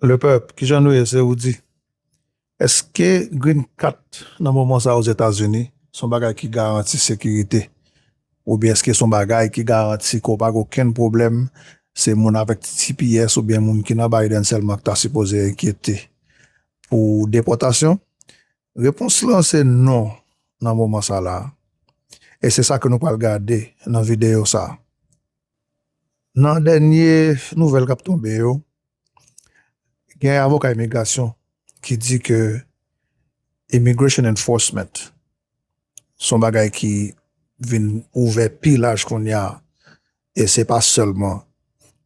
Le peuple, ki jan nou ye se ou di? Eske green kat nan moman sa ozetazini son bagay ki garanti sekirite oubyen eske son bagay ki garanti ke w pa gen okenn pwoblèm se moun avèk ti tps oubyen moun ki nan Biden sèlman ki ta sipoze enkyete pou depòtasyon? Repons lan se non nan moman sa la e se sa ke nou pral gade nan videyo sa. Nan dènye nouvèl kap tonbe yo, gen avoka imigrasyon ki di ke Immigration Enforcement se yon bagay ki vin ouvè pi laj kounye a e se pa sèlman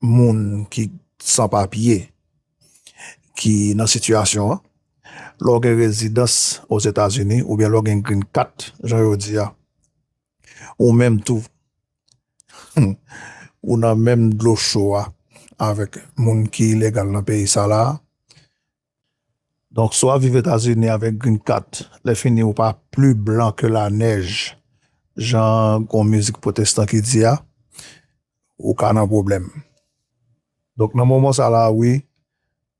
moun ki san papye ki nan sitiyasyon an. Lè w gen rezidans Ozetazini oubyen lè w gen green kat jan yo di a. Ou menm tou ou nan menm dlo cho a avèk moun ki ilegal nan peyi sa la a. Donk si w ap viv Etazini avèk green card, lè fini ou pa pli blan ke la nèj jan gon mizik pwotestan ki di a, ou ka nan pwoblèm. Donk nan moman sa la a wi,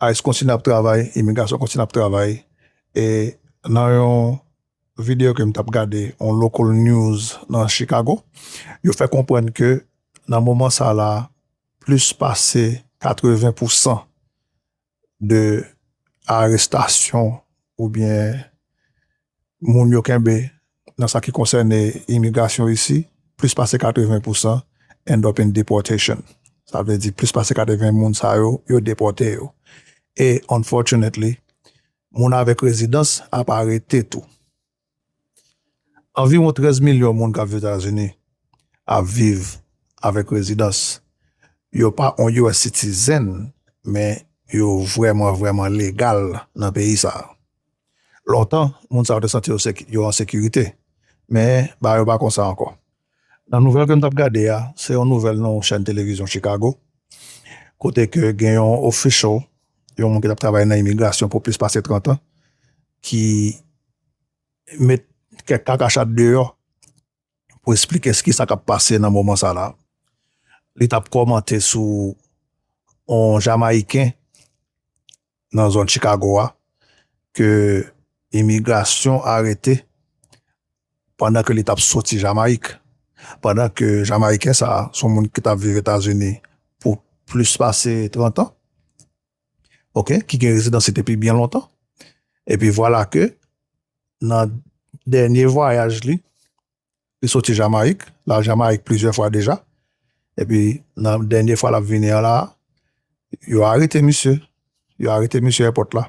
ice kontinye ap travay, imigrasyon kontinye ap travay e nan yon. Video ke m tap gade yon local news nan Chicago, yo fè konprann ke nan moman sa la plis pase 80 pou 100 de arestasyon ou byen moun yo kenbe nan sa ki konsène imigrasyon isi, plis pase 80 pou 100 end up in deportation. Sa vle di plis pase 80 moun sa yo, yo depòte yo. E unfortunately, Moun avèk rezidans ap arete tou. Anviwon 13 milyon moun k ap viv Etazini ap viv avèk rezidans. Yo pa on US citizen men yo vrèman vrèman legal nan peyi sa. Lontan moun sa yo te santi yo an sekirite men bagay yo pa konsa ankò. Nan nouvèl ke m tap gade a, se yon nouvèl nan yon chèn televizyon Chicago, kote ke gen yon official, yon moun ki tap travay nan imigrasyon pou plis pase 30 an, ki met kèk kakachat deyò pou esplike s kisa kap pase nan moman sa la. Li tap kòmante sou yon Jamayiken nan zòn Chikago a ke imigrasyon arete pandan ke li tap soti Jamayik, pandan ke Jamayiken sa a son moun ki tap viv Etazini pou plis pase 30 an, ok, ki gen rezidansi depi byen lontan, epi vwala ke nan dènye vwayaj li, Li soti Jamayik, l al Jamayik plizyè fwa deja. Epi nan dènye fwa l ap vini an la a, yo arete misye. Yo arete misye èpòt la.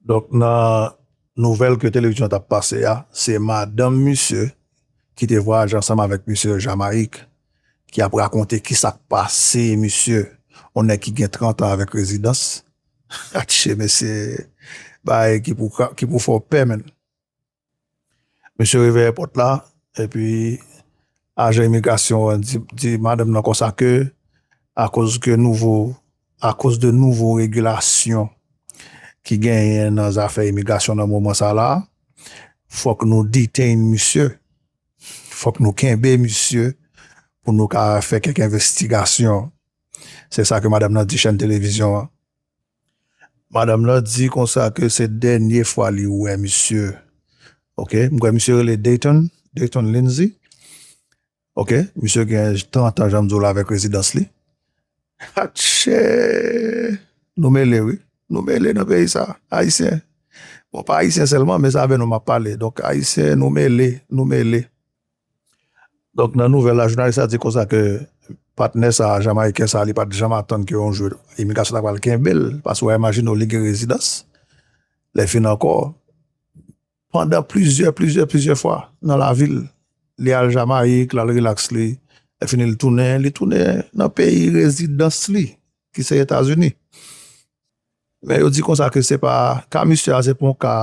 Donk nan nouvèl ke televizyon an t ap pase a, se madanm misye ki te vwayaje ansanm avèk misye Jamayik ki ap rakonte ki sa k pase misye, yon nèg ki gen trantan avèk rezidans. Atche mesye! Bagay ki pou fè w pè menn. Mesye reveye pòt la, epi ajan imigrasyon an di madanm nan konsa ke akoz ke nouvo, akoz de nouvo regilasyon ki genyen nan zafè imigrasyon nan moman sa la, fòk nou detain misye, fòk nou kenbe misye pou nou ka fè kèk envestigasyon. Se sa ke madanm nan di chèn televizyon an. Madam lan di konsa ke se dènye fwa li wè misye. Ok, m kwè misye rele Dayton, Dayton Lindsay. Ok, misye gen 30 an janm di w la avèk rezidans li. Atche! Nou mele wi. Nou mele nan peyi sa. Ayisyen. Bon pa ayisyen sèlman men sa avè nou m ap pale. Donk ayisyen nou mele, nou mele. Donk nan nouvèl la jounalis la di konsa ke patnè sa a jamayiken sa a li pat janm atann ke yon jou imigrasyon ta pral kenbe l paske w a imajine w li gen rezidans lèfini ankò pandan plizyè plizyè plizyè fwa nan lavi l li al jamayik l al rilaks li lèfini l tounen li tounen nan peyi rezidans li ki se etazini. Men yo di konsa ke se pa ka misye a se pa yon ka,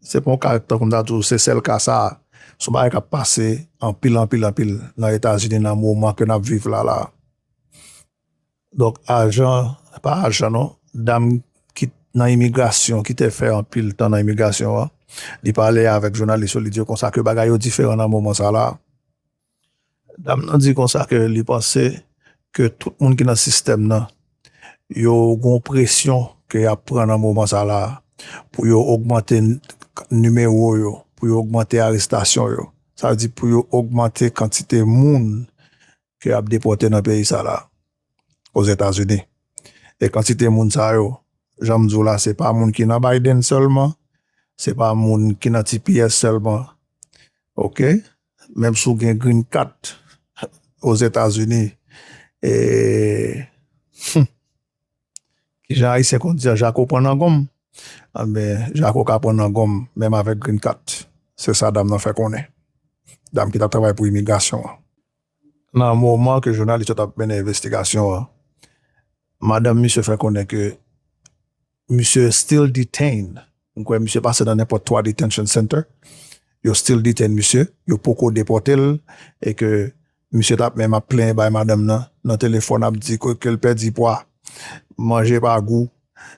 se pa yon ka tankou m ta di w se sèl ka sa a, se yon bagay k ap pase anpil, anpil, anpil nan Etazini nan moman ke n ap viv la la a. Donk ajan, pa ajan non, dam ki nan imigrasyon, ki te fè anpil tan nan imigrasyon an, li pale avèk jounalis yo, li di yo konsa ke bagay yo diferan nan moman sa la a. Dam nan di konsa ke li panse ke tout moun ki nan sistèm nan yo gon presyon ke yap pran nan moman sa la pou yo ogmante nimewo yo, pou yo ogmante arestasyon yo, sa vle di pou yo ogmante kantite moun ke yap depòte nan peyi sa la, Ozetazini. E kantite moun sa yo, janm di w la se pa moun ki nan Biden sèlman, se pa moun ki nan tps sèlman, ok. Menm si w gen green card ozetazini humm kijan ayisyen konn di a jako pran nan gonm anben jako ka pran nan gonm menm avèk green card se sa dam nan fè konnen dam ki tap travay pou imigrasyon an nan moman ke jounalis yo tap mennen envestigasyon an madanm misye fè konnen ke Misye still detained. M kwè misye pase nan nenpòt 3 detention center. Yo still detain misye. Yo poko depòte l e ke misye tap menm ap plenyen bay madanm nan nan telefòn ap di ke l pèdi pwa, manje pa gou.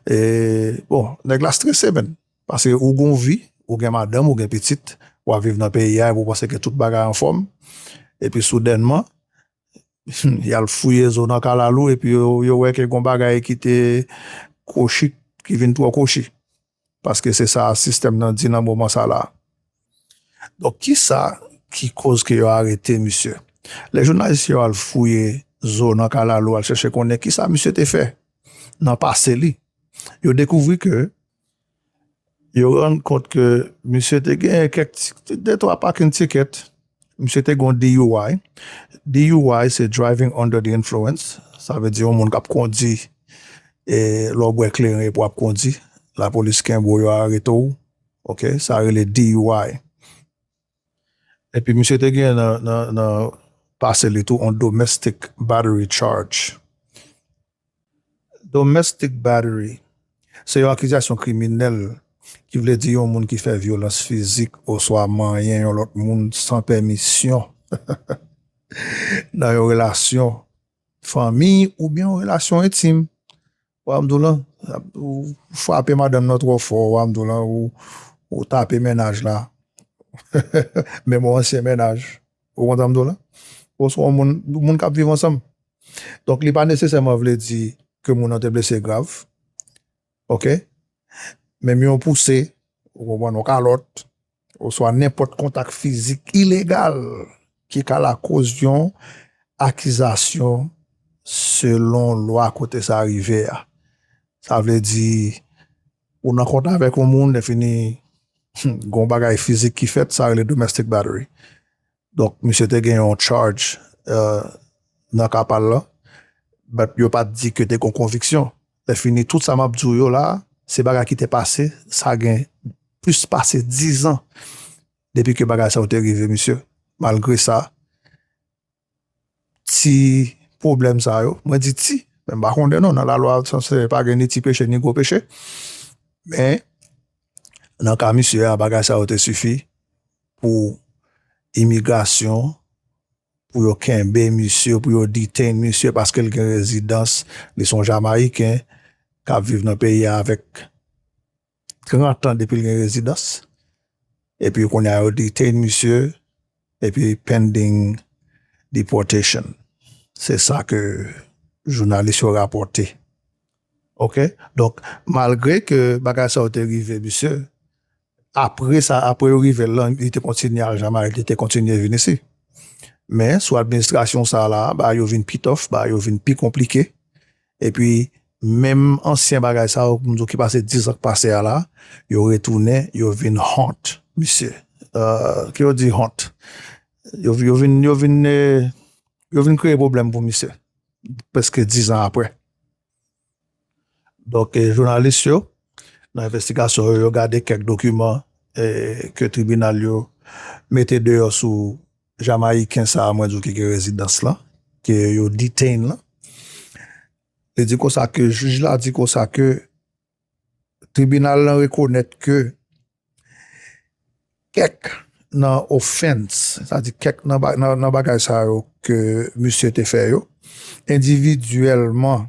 E bon, nèg la strese menn. Pase ou gon vi, ou gen madanm, ou gen pitit, wap viv nan peyi a epi ou panse ke tout bagay anfòm. Epi soudènman, Yal fouye zo nan kalalou epi yo wè ke gon bagay ki te kwochi ki vin twò kwochi. Paske se sa sistèm nan di nan moman sa la. Donk kisa ki koz ke yo arete misye? Lè jounalis yo al fouye zo nan kalalou al chèche konnen kisa misye te fè nan pase li, yo dekouvri ke Yo rann kont ke misye te genyen kèk ti de twa parking ticket, misye te gen yon DUI, DUI se Driving Under the Influence, sa vle di yon moun kap kondi e lè w bwè kleren epi wap kondi, lapolis kenbe w yo arete w, ok, sa rele DUI. Epi misye te gen nan pase li tou on domestic battery charge. Domestic battery se yon akizasyon kriminèl ki vle di yon moun ki fè vyolans fizik oswa manyen yon lòt moun san pèmisyon nan yon relasyon fanmi oubyen yon relasyon entim. Ramdoulan ou frape madanm nan trò fò ramdoulan ou tape mennaj la menm yon ansyen mennaj ou kont ramdoulan ou se yon moun moun kap viv ansanm donk li pa nesesèman vle di ke moun nan te blese grav ok menm yon pouse ou konprann yon kalòt. Oswa nenpòt kontak fizik ilegal ki ka lakoz yon akizasyon selon lwa kote sa rive a. Sa vle di, ou nan kontak avèk yon moun, lèfini gen yon bagay fizik ki fèt, sa rele domestic battery. Donk misye te gen yon charge nan ka pal lan, but yo pat di ke te gon konviksyon. Lè fini tout sa map di w yo la, se bagay ki te pase, sa gen plis pase 10 ans depi ke bagay sa yo te rive misye. Malgre sa. ti pwoblèm sa yo, mwen di ti, men m pa konnen non, nan lalwa franse pa gen ni ti peche ni gwo peche, men nan ka misye a bagay sa yo te sifi pou imigrasyon pou yo kenbe misye, pou yo detain misye paske l gen rezidans, li s on jamayiken k ap viv nan peyi a avèk 30 an depi l gen rezidans epi kounye a yo detain misye epi pending deportation se sa ke jounalis yo rapòte ok donk malgre ke bagay sa yo te rive misye apre sa apre yo rive l lan li te kontinye al jamayik li te kontinye vin isi men sou administrasyon sa la bagay yo vin pi tof bagay yo vin pi konplike Epi menm ansyen bagay sa yo pou m di w ki pase 10 ans k pase a la yo retounen yo vin honte misye ke yo di honte yo vin yo vin yo vin kreye pwoblèm pou misye prèske 10 ans aprè donk jounalis yo nan envestigasyon yo yo gade kèk dokiman ke tribinal yo mete deyò sou Jamayiken sa a mwen di w ki gen rezidans lan, ke yo detain lan, li di konsa ke jij la di konsa ke tribinal lan rekonèt ke kèk nan ofens, sa di kèk nan bagay sa yo ke misye te fè yo, endividyèlman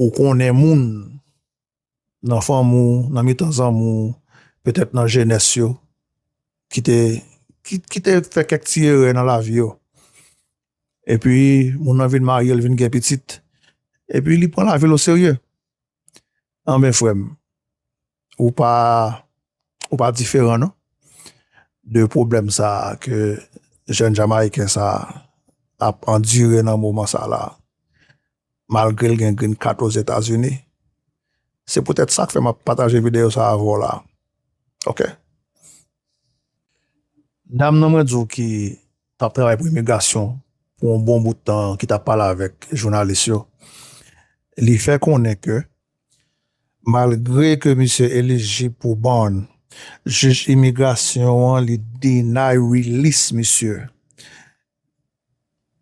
ou konnen moun nan fanmi w, nan mitan zanmi w, petèt nan jenès yo ki te ki te fè kèk ti erè nan lavi yo epi moun nan vin marye l vin gen pitit epi li pran lavi l oserye Anben frèm ou pa ou pa diferan non de problèm sa ke jèn jamayiken sa ap andire nan moman sa la malgre l gen green card ozetazini se poutèt sak fè map pataje videyo sa avè w la ok. Dam nan mwen di w ki t ap travay pou imigrasyon pou yon bon bout tan an ki t ap pale avèk jounalis yo, li fè konnen ke malgre ke misye elijib pou bond, jij imigrasyon an li deny release misye.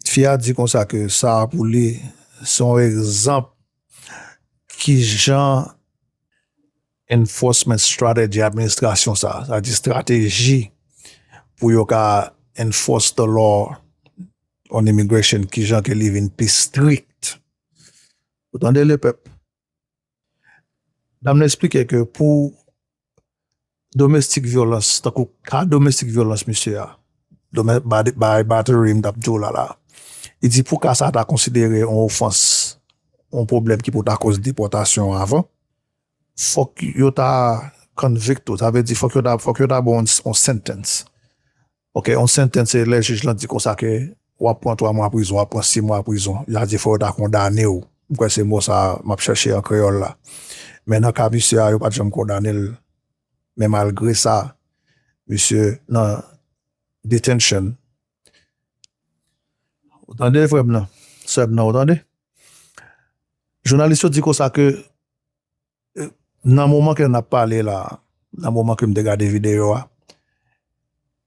Fi a di konsa ke sa pou li se yon egzanp kijan Enforcement strategy administrasyon sa, sa di strateji pou yo ka enforce the law on immigration ki jan ke li vin pi strict. Ou tande le pèp? Dam nan esplike ke pou domestic violence, tankou ka domestic violence misye a, by battery m tap di w la la, li di pou ka sa ta konsidere yon ofans, yon pwoblèm ki pou ta koz depòtasyon avan, Fòk yo ta convict ou, sa vle di fòk yo ta fòk yo ta ba w yon sentence ok yon sentence se lè jij lan di konsa ke wap pran 3 mwa prizon wap pran 6 mwa prizon sa di fòk yo ta kondane w m kwè se mo sa map chèche an kreyòl la men nan ka misye a yo pat janm kondane l men malgre sa misye nan detention. Ou tande frè m nan, sè m nan ou tande. Jounalis yo di konsa ke Nan moman ke nap pale la, nan moman ke m te gade videyo a,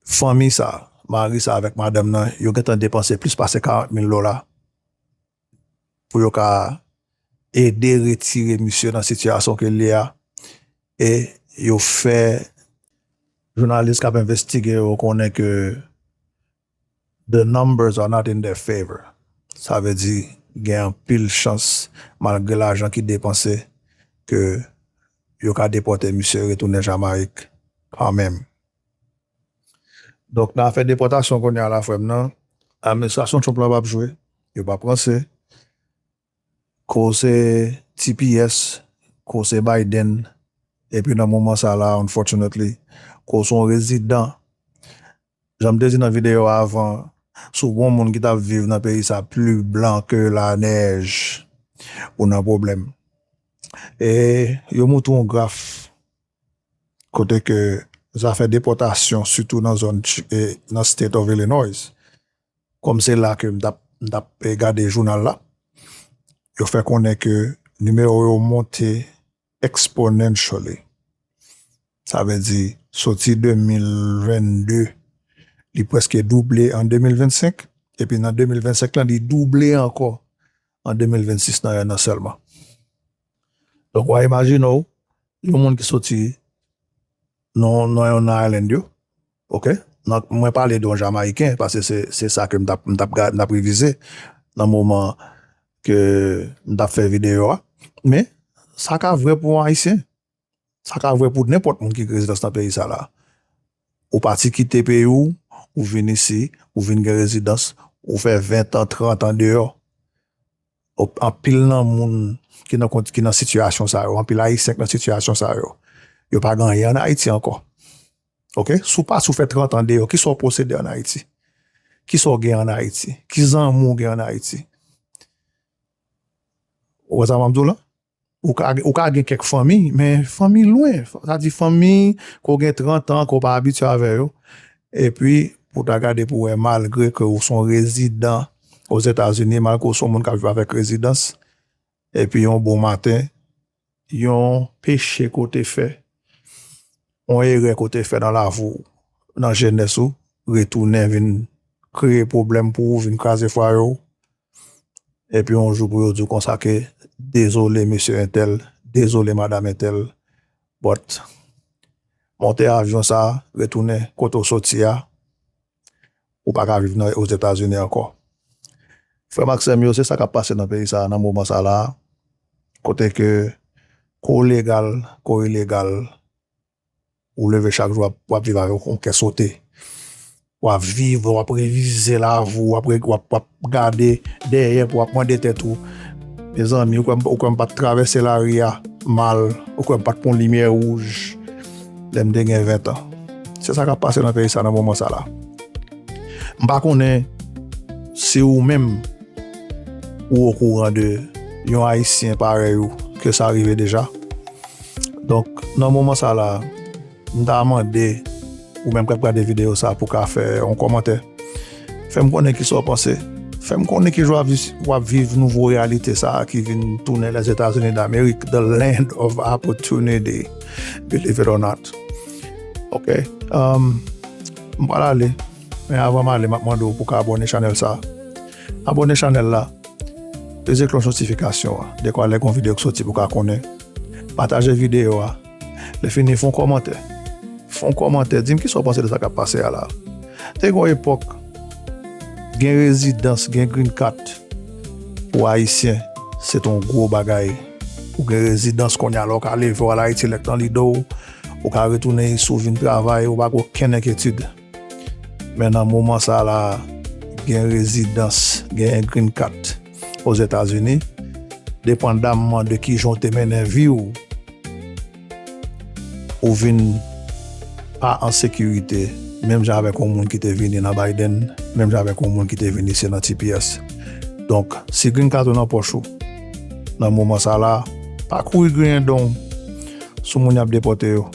fanmi sa, mari sa avèk madanm nan, yo gentan depanse plis pase 40 mil dola pou yo ka ede retire misye nan sitiyasyon ke l ye a e yo fè. Jounalis kap envestige yo konnen ke The numbers are not in their favor, sa vle di gen anpil chans malgre lajan ki depanse ke yo ka depòte misye retounen Jamayik kanmenm. Donk nan afè depòtasyon kounye a la frè m nan, administrasyon Trump la pa p jwe, yo pa p ranse. Ko se tps, ko se Biden, epi nan moman sa la unfortunately, ko se yon rezidan. Jan m te di nan videyo a avan, si w gen yon moun ki t ap viv nan peyi sa pli blan ke lanèj, ou nan pwoblèm. E yo montre yon graf kote ke zafè depòtasyon sitou nan zòn nan State of Illinois Kòm se la ke m t ap m t ap gade jounal la, yo fè konnen ke nimewo yo monte exponentially. Sa vle di soti 2022 li prèske double an 2025, epi nan 2025 lan li double ankò an 2026 nan 1 an sèlman. Donk wa imajine w yon moun ki soti nan yon nan island yo, Ok nan mwen pale de yon jamayiken paske se se sa ke m tap m tap ga m tap revize nan moman ke m tap fè videyo a men sa ka vre pou yon ayisyen sa ka vre pou nenpòt moun ki gen rezidans nan peyi sa la ou pati kite peyi w ou vin isi ou vin gen rezidans ou fè 20 tan 30 tan deyò ok anpil nan moun ki nan ki nan sitiyasyon sa yo anpil ayisyen ki nan sitiyasyon sa yo yo pa gen anyen an ayiti ankò. Ok si w pati w fè 30 an deyò kisa w posede an Ayiti? Kisa w gen an Ayiti? Ki zanmi w gen an Ayiti? Ou wè sa m ap di w la? Ou ka ou ka gen kèk fanmi men fanmi lwen sa di fanmi ke w gen 30 an ke w pa abitye avè yo epi pou w ta gade pou w wè malgre ke w son rezidan Ozetazini malgre w son moun k ap viv avèk rezidans epi yon bon maten Yon peche ke w te fè, yon erè ke w te fè nan lavi w, nan jenès ou, retounen vin kreye pwoblèm pou ou, vin kraze fwaye w, epi yon jou pou yo di w konsa ke dezole mesye entèl, dezole madam entèl, but monte avyon sa, retounen kote w soti a. Ou pa ka viv nan Ozetazini ankò. Frè m ak sè m yo, se sa k ap pase nan peyi sa a nan moman sa a la a, kote ke kou w legal, kou w ilegal, ou leve chak jou w ap viv avèk yon kè sote. W ap viv, w ap revize lavi w, w ap, w ap. Gade dèyè pou wap mande tèt ou Mezanmi ou kwèm ou kwèm pat travèse lari a mal ou kwèm pat pwan limyè wouj lèm te gen 20 ans se sa kap pase nan peyi sa nan moman sa la m pa konnen si ou menm ou okouran de yon ayisyen parèy ou ke sa rive deja donk nan moman sa la m ta mande. Ou menm kap gade videyo sa pou ka fè yon kòmantè. Fèm konnen kisa w panse. Fèm konnen ki jan wap viv nouvo reyalite sa ki vin tounen Lèzetazini Damerik, the land of opportunity, believe it or not. Ok, m pral ale, men avan m ale map mande w pou ka abòne chanèl sa. Abòne chanèl la, peze klòch notifikasyon an dekwa lè gon videyo k soti pou ka konnen. Pataje videyo a. Lè fini fon kòmantè. Fon kòmantè dim kisa w panse de sa kap pase a la. Te gon epòk gen rezidans gen green kat pou ayisyen se te yon gwo bagay ou gen rezidans konya la w ka leve w al ayiti lè k nan lide w ou ka retounen isit w vin travay ou pa gen okenn enketid. Men nan moman sa la gen rezidans, gen green card Ozetazini, depandamman de kijan ou te mennen vi w, ou vin pa an sekirite menm jan avèk yon moun ki te vini nan Biden, menm jan avèk yon moun ki te vini se nan tps. Donk, si green card ou nan pòch ou nan moman sa la, pa kouri griyen don w sou moun y ap depòte yo.